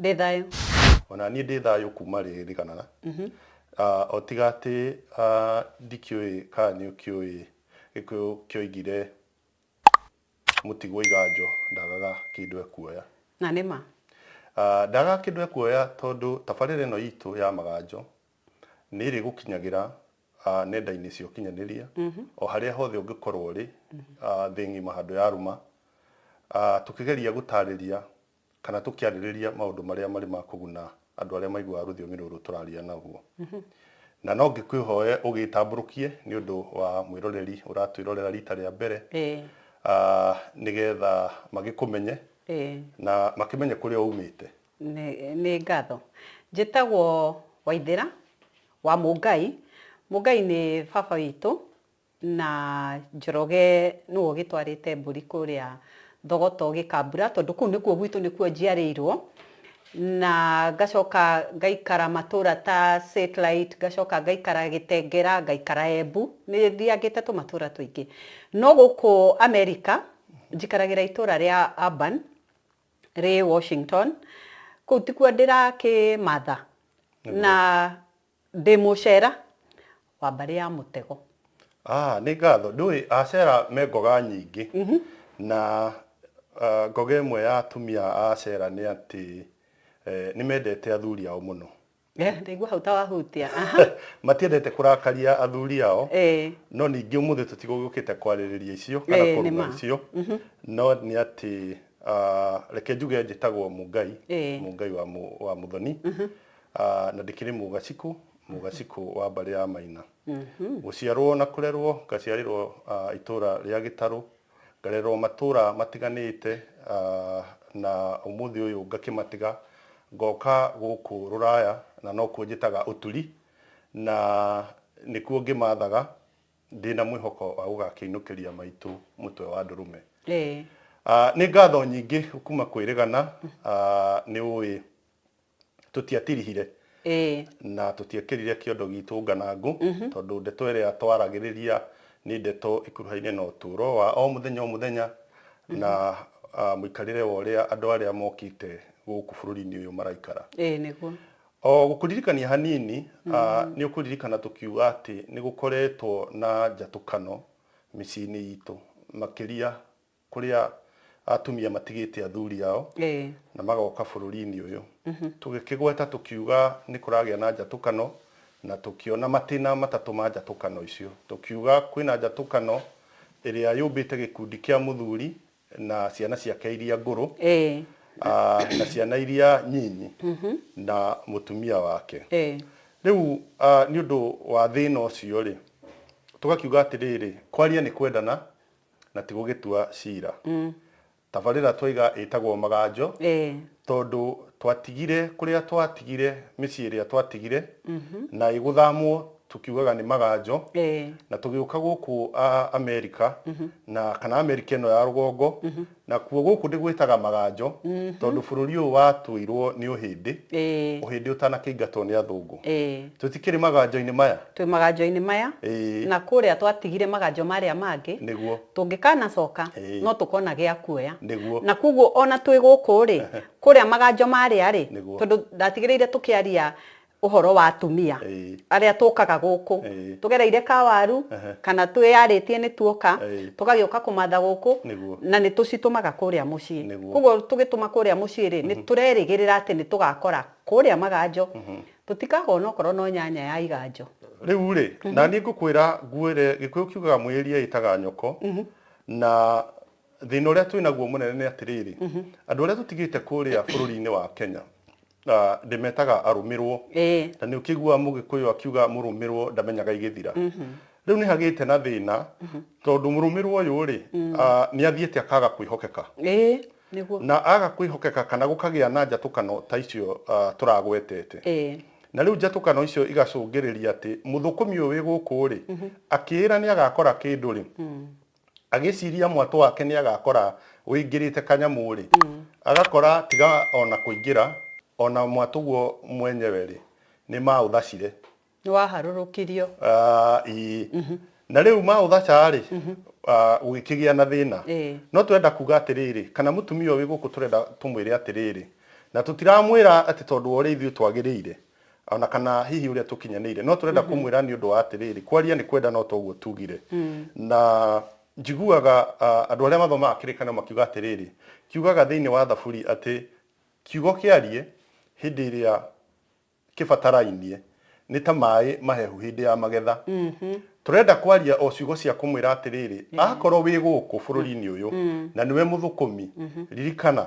Ndĩ thayũ. O na niĩ ndĩ thayũ kuuma rĩririkanana. Ah, o tiga atĩ ah, ndikĩũĩ kana nĩ ũkĩũĩ Gĩkũyũ kĩoigire mũtigwo iganjo ndagaga kĩndũ ekuoya. Na nĩ ma. Ah, ndagaga kĩndũ ekuoya tondũ tabarĩra ĩno itũ ya Maganjo nĩ ĩrĩgũkinyagĩra ah, nenda-inĩ cia ũkinyanĩria o harĩa hothe ũngĩkorwo ũrĩ ah, thĩ ng'ima handũ ya rũma. Ah, tũkĩgeria gũtarĩria Kana tũkĩarĩrĩria maũndũ marĩa marĩ ma kũguna andũ arĩa maiguaga rũthiomi rũrũ tũraria naguo. Na no ngĩkwĩhoe ũgĩĩtambũrũkie nĩ ũndũ wa mwĩroreri ũratwĩrorera riita rĩa mbere, nĩgetha magĩkũmenye na makĩmenye kũrĩa uumĩte. Nĩ ngatho. Njĩtagwo Waithĩra wa Mũngai. Mũngai nĩ baba witũ. Na Njoroge nĩwe ũgĩtwarĩte mbũri kũrĩa Thogoto Gĩkambura tondũ kũu nĩkuo gwitũ nĩkuo njiarĩirwo, na ngacoka ngaikara matũra ta Satellite, ngacoka ngaikara Gĩtengera, ngaikara Embu, nĩ thiangĩte tũmatũra tũingĩ. No gũkũ Amerika njikaragĩra itũra rĩa Urban rĩ Washington, kũu tikuo ndĩrakĩmatha na Ndĩ Mũcera wa mbarĩ ya mũtego. Aah nĩ ngatho. Ndũĩ Acera me ngoga nyingĩ na ngoga ĩmwe ya atumia a Acera nĩ atĩ nĩ mendete athuri ao mũno. Ndaigua hau ta wahutia. Matiendete kũrakaria athuri ao, no ningĩ ũmũthĩ tũtigũgĩũkĩte kwarĩrĩria icio kana kũruma icio, no nĩ atĩ reke njuge njĩtagwo Mũngai, Mũngai wa Mũthoni, Ah, na ndikiri mugaciku mugaciku wa mbari ya maina guciarwo na kurerwo ngaciarirwo ah, itura ria gitaru ngarerwo matura matiganite ah, na umuthi uyu ngakimatiga ngoka guku ruraya na no kuo njitaga uturi na nikuo ngimathaga ndina mwihoko wa gugakiinukiria maitu mutwe wa ndurume Eh. Ah, nĩ ngatho nyingĩ kuma kwĩrĩgana ah, nĩ ũĩ tũtiatirihire Ĩĩ. na tũtiekĩrire kĩondo giitũ nganangũ, tondũ ndeto ĩrĩa twaragĩrĩria nĩ ndeto ĩkuruhaine na ũtũũro wa o mũthenya o mũthenya, na ah, mũikarĩre wa ũrĩa andũ arĩa mokĩte gũkũ bũrũri-inĩ ũyũ maraikara. Ĩĩ nĩguo. O gũkũririkania hanini, ah, nĩ ũkũririkana tũkiuga atĩ nĩ gũkoretwo na njatũkano mĩciĩ-inĩ iitũ, makĩria Kũrĩa atumia matigĩte athuri ao na magoka bũrũri-inĩ ũyũ. Tũgĩkĩgweta tũkiuga nĩ kũragĩa na njatũkano na tũkĩona matĩna matatũ ma njatũkano icio. Tũkiuga kwĩna njatũkano ĩrĩa yũmbĩte gĩkundi kĩa mũthuri na ciana ciake iria ngũrũ na ciana iria nyinyi na mũtumia wake. Rĩu nĩ ũndũ wa thĩna ũcio rĩ, tũgakiuga atĩrĩrĩ, kwaria nĩ kwendana na ti gũgĩtua ciira. Tabarĩra twaiga ĩtagwo Maganjo tondũ twatigire kũrĩa twatigire mĩciĩ ĩrĩa twatigire na ĩgũthamwo tũkiugaga nĩ Maganjo na tũgĩũka gũkũ Amerika na kana Amerika ĩno ya rũgongo Nakuo gũkũ ndĩgwĩtaga Maganjo tondũ bũrũri ũyũ watũirwo nĩ ũhĩndĩ, Ĩĩ. ũhĩndĩ ũtanakĩingatwo nĩ athũngũ. Ĩĩ. Tũtikĩrĩ maganjo-inĩ maya? Twĩ maganjo-inĩ maya, Ĩĩ. na kũrĩa twatigire maganjo marĩa mangĩ, Nĩguo. tũngĩkanacoka, Ĩĩ. no tũkona gĩa kuoya. Nĩguo. Na kwoguo o na twĩ gũkũ-rĩ, kũrĩa maganjo marĩa-rĩ, Nĩguo. tondũ ndatigĩrĩire tũkĩaria ũhoro wa atumia Ĩĩ. arĩa tũkaga gũkũ Ĩĩ. tũgereire ka waru Ehe. kana twĩyarĩtie nĩ tuoka Ĩĩ. tũgagĩũka kũmatha gũkũ Nĩguo. na nĩ tũcitũmaga kũrĩa mũciĩ Nĩguo. koguo tũgĩtũma kũrĩa mũciĩ rĩ nĩ tũrerĩgĩrĩra atĩ nĩ tũgakora kũrĩa maganjo tũtikaga onokorwo no nyanya ya iganjo rĩu rĩ na niĩ ngũkwĩra ngwĩre gĩkũyũ kiugaga mwĩĩria ĩtaga nyoko na Thĩna ũrĩa twĩ naguo mũnene nĩ atĩrĩrĩ, andũ arĩa tũtigĩte kũrĩa bũrũri-inĩ wa Kenya, ah, ndĩmetaga arũmĩrwo. Ĩĩ. Na nĩ ũkĩiguaga Mũgĩkũyũ akiuga mũrũmĩrwo ndamenyaga igĩthira. Rĩu nĩ hagĩte na thĩna, tondũ mũrũmĩrwo ũyũ-rĩ, ah, nĩ athiĩte akaga kwĩhokeka. Ĩĩ, nĩguo. Na aga kwĩhokeka kana gũkagĩa na njatũkano ta icio, ah, tũragwetete. Ĩĩ. Na rĩu njatũkano icio igacũngĩrĩria atĩ mũthũkũmi ũyũ wĩ gũkũ-rĩ, akĩĩra nĩ agakora kĩndũ-rĩ, Agĩciria mwatũ wake nĩ agakora ũingĩrĩte kanyamũ-rĩ, agakora tiga o na kũingĩra, o na mwatũ guo mwenyewe-rĩ, nĩ maũthacire. Nĩ waharũrũkirio. Ĩĩ. Na rĩu maũthaca-rĩ, gũgĩkĩgĩa na thĩna. No tũrenda kuuga atĩrĩrĩ, kana mũtumia ũyũ wĩ gũkũ tũrenda tũmwĩre atĩrĩrĩ, na tũtiramwĩra atĩ tondũ wa ũrĩa ithuĩ twagĩrĩire, O na kana hihi ũrĩa tũkinyanĩire. No tũrenda kũmwĩra nĩ ũndũ wa atĩrĩrĩ, kwaria nĩ kwenda no to ũguo tuugire. Na njiguaga andũ arĩa mathomaga kĩrĩkanĩro makiuga atĩrĩrĩ, kiugaga thĩinĩ wa Thaburi atĩ kiugo kĩarie hĩndĩ ĩrĩa kĩbatarainie nĩ ta maĩ mahehu hĩndĩ ya magetha. Tũrenda kwaria o ciugo cia kũmwĩra atĩrĩrĩ, akorwo wĩ gũkũ bũrũri-inĩ ũyũ na nĩwe mũthũkũmi, ririkana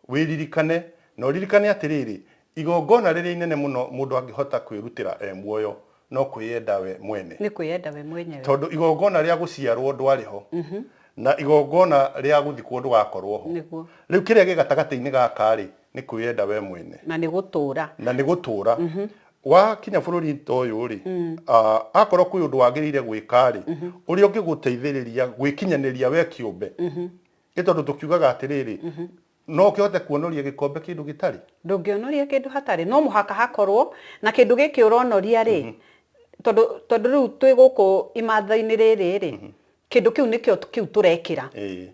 Wĩririkane, na ũririkane atĩrĩrĩ, igongona rĩrĩa inene mũno mũndũ angĩhota kwĩrutĩra e muoyo no kwĩyenda we mwene. Nĩ kwĩyenda we mwenyewe. Tondũ igongona rĩa gũciarũo ndwarĩ ho, na igongona rĩa gũthikwo ndũgakorũo ho. Nĩguo. Rĩu kĩrĩa gĩ gatagatĩ-inĩ gaka-rĩ, nĩ kwĩyenda we mwene. Na nĩ gũtũũra. Na nĩ gũtũũra. Wakinya bũrũri ta ũyũ-rĩ, akorũo kwĩ ũndũ wagĩrĩire gwĩka-rĩ, ũrĩa ũngĩgũteithĩrĩria gwĩkinyanĩria we kĩũmbe, Nĩ tondũ tũkiugaga atĩrĩrĩ, no ũkĩhote kuonoria gĩkombe kĩndũ gĩtarĩ? Ndũngĩonoria kĩndũ hatarĩ, no mũhaka hakorwo, na kĩndũ gĩkĩ ũronoria rĩ, tondũ tondũ rĩu twĩ gũkũ imatha-inĩ rĩrĩ rĩ, kĩndũ kĩu nĩkĩo kĩu tũrekĩra. Ĩĩ.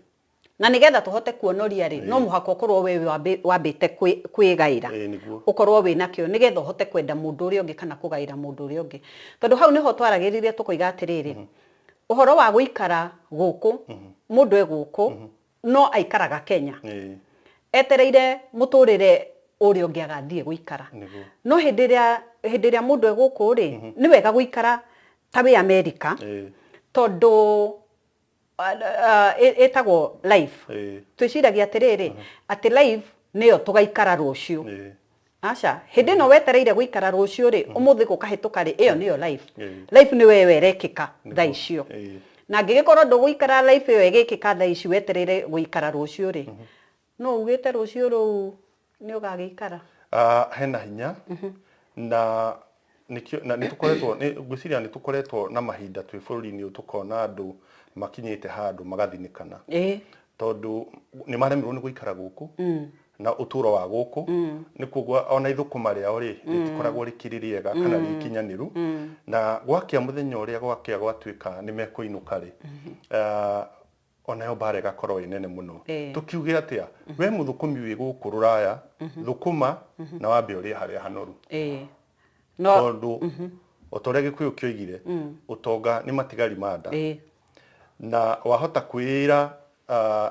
Na nĩgetha tũhote kuonoria rĩ, no mũhaka ũkorwo we wambĩ- wambĩte kwĩ- kwĩgaĩra. Ĩĩ nĩguo. Ũkorwo wĩnakĩo nĩgetha ũhote kwenda mũndũ ũrĩa ũngĩ kana kũgaĩra mũndũ ũrĩa ũngĩ. Tondũ hau nĩho twaragĩrĩria tũkoiga atĩrĩrĩ, Ũhoro wa gũikara gũkũ, mũndũ e gũkũ no aikaraga Kenya etereire mũtũrĩre ũrĩa ũngĩ agathiĩ gũikara. No hĩndĩ ĩrĩa hĩndĩ ĩrĩa mũndũ e gũkũ rĩ, nĩ wega gũikara ta wĩ America tondũ ĩtagwo life. Twĩciragia atĩrĩrĩ, atĩ life nĩyo tũgaikara rũciũ. Aca, hĩndĩ ĩno wetereire gũikara rũciũ rĩ, ũmũthĩ gũkahĩtũka rĩ, ĩyo nĩyo life. Life nĩyo ĩyo ĩrekĩka thaa icio. Na angĩgĩkorwo ndũgũikara life ĩyo ĩgĩkĩka thaa ici wetereire gũikara rũciũ rĩ, nũ ugĩte rũciũ rũu nĩũgagĩikara? Hena hinya na Nĩkĩo- na nĩtũkoretwo nĩ- ngwĩciria nĩtũkoretwo na mahinda twĩ bũrũri-inĩ ũyũ tũkona andũ makinyĩte handũ magathinĩkana ĩĩ tondũ nĩmaremirwo nĩ gũikara gũkũ na ũtũro wa gũkũ nĩ kuoguo ona ithũkũma rĩao rĩ rĩtikoragwo rĩkĩrĩ rĩega kana rĩ ikinyanĩru na gwakĩa mũthenya ũrĩa gwakĩa gwatuĩka nĩ mekũinũka rĩ ah, O nayo mbaara ĩgakorwo ĩ nene mũno. Tũkiuge atĩa? Wee mũthũkũmi wĩ gũkũ rũraya, thũkũma na wambe ũrĩe harĩa hanoru. Tondũ o ta ũrĩa Gĩkũyũ kĩoigire, ũtonga nĩ matigari ma nda. Na wahota kwĩĩra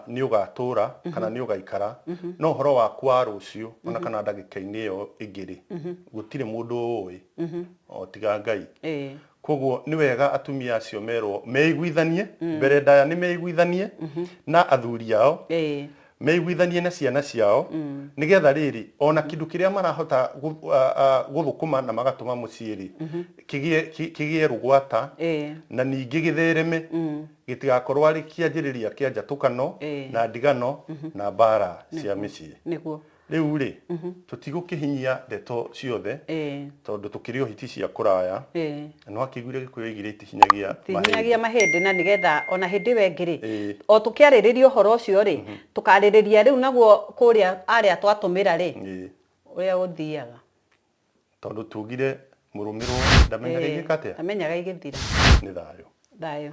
nĩ ũgatũũra kana nĩ ũgaikara, no ũhoro waku wa rũciũ o na kana ndagĩka-inĩ ĩyo ĩngĩ-rĩ, gũtirĩ mũndũ ũũĩ o tiga Ngai. Kwoguo nĩ wega atumia acio merwo meiguithanie, mbere ndaya nĩ meiguithanie na athuri ao, Ĩĩ. meiguithanie na ciana ciao, nĩgetha rĩrĩ, ona kĩndũ kĩrĩa marahota gũ- a- a- gũthũkũma na magatũma mũciĩ-rĩ, kĩgĩe- kĩ- kĩgĩe rũgwata, Ĩĩ. na ningĩ gĩthereme, gĩtigakorwo arĩ kĩanjĩrĩria kĩa njatũkano, Ĩĩ. na ndigano, na mbaara cia mĩciĩ. Nĩguo. Rĩu-rĩ, tũtigũkĩhinyia ndeto ciothe, tondũ tũkĩrĩ o hiti cia kũraya. Na no akĩiguire Gĩkũyũ oigire itihinyagia mahĩndĩ. Itihinyagia mahĩndĩ, na nĩgetha o na hĩndĩ ĩyo ĩngĩ-rĩ, o tũkĩarĩrĩria ũhoro ũcio-rĩ, tũkarĩrĩria rĩu naguo kũrĩa arĩa twatũmĩra-rĩ, ũrĩa ũthiaga. Tondũ tuugire mũrũmĩrwo ndamenyaga ingĩka atĩa? Ndamenyaga igĩthira. Nĩ thayũ. Thayũ.